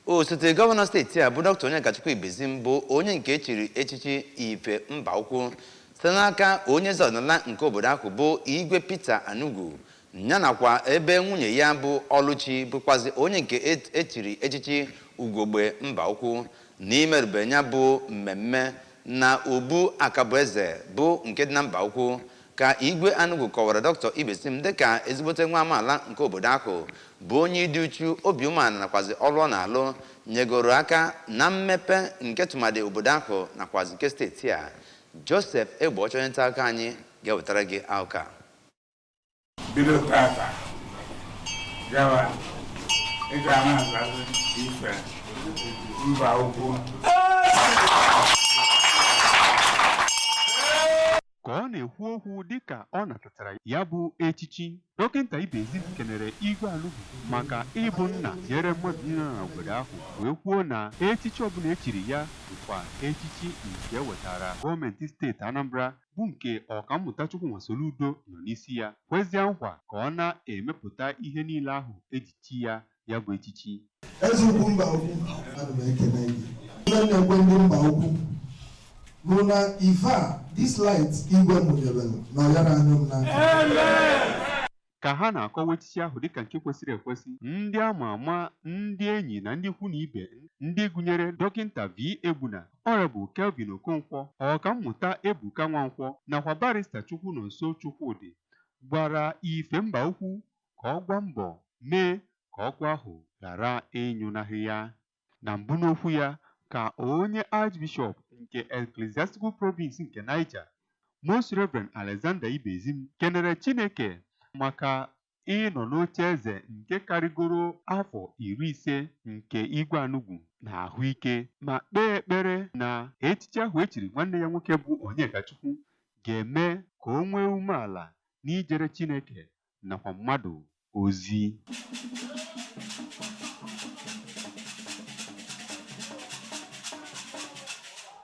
osote gọvanọ steeti a bụ dọkịta Onyekachukwu Ibezim bụ onye nke echiri echichi ife Mbaukwu site n'aka onye eze ọdịnala nke obodo ahụ bụ igwe Peter Anugwu ya nakwa ebe nwunye ya bụ Ọlụchi bụkwazi onye nke echiri echichi ugogbe Mbaukwu n'imerube ya bụ mmemme na obu Akabueze bụ nke dị na Mbaukwu Ka Igwe Anugwu kọwara Doctor Ibezim dịka ezigbote nwa amaala nke obodo ahụ bụ onye ịdị uchu, obi umeala nakwazị ọrụ ọ na-alụ nyegoro aka na mmepe nke tụmadị obodo ahụ nakwazị nke steeti a. Joseph Egbeọcha onye ntaakụkọ anyị ga-ewetara gị akụkọ a. Bido tata gawa, ị ga na-azazi ife Mbaukwu. Ka ọ na-ekwu okwu dịka ọ natatara ya bụ echichi, Dọkịnta Ibezim kenere Igwe Anugwu maka ịbụ nna nyere mmadụ niile nọ n'obodo ahụ wee kwuo na echichi ọbụla e chiri ya bụkwa echichi nke e wetaara gọọmenti steeti Anambra bụ nke Ọkammụta Chukwuma Soludo nọ n'isi ya, kwezie nkwa ka ọ na-emepụta ihe niile ahụ e ji chi ya ya bụ echichi eze ukwu Mbaukwu ana m ekele gị ihe m na-ekwe ndị Mbaukwu bụ na ife a this light igwe mụnyere na ọ yara anyụ m n'aka ka ha na-akọwa echichi ahụ dịka nke kwesịrị ekwesị ndị ama ama ndị enyi na ndị ikwu na ibe ndị gụnyere dọkịnta V Egbuna Honorable Kelvin Okonkwo ọkammụta Ebuka Nwankwọ nakwa barista Chukwunonso Chukwudị gwara ife Mbaukwu ka ọ gbaa mbọ mee ka ọkụ ahụ ghara ịnyụnahụ ya. Na mbụ n'okwu ya ka onye Archbishop nke Ecclesiastical Province nke Niger, Most Rev. Alexander Ibezim kenere Chineke maka ịnọ n'oche eze nke karịgoro afọ iri ise nke Igwe Anugwu na ahụike ma kpee ekpere na echichi ahụ e chiri nwanne ya nwoke bụ Onyekachukwu ga-eme ka o nwee umeala n'ijere Chineke nakwa mmadụ ozi.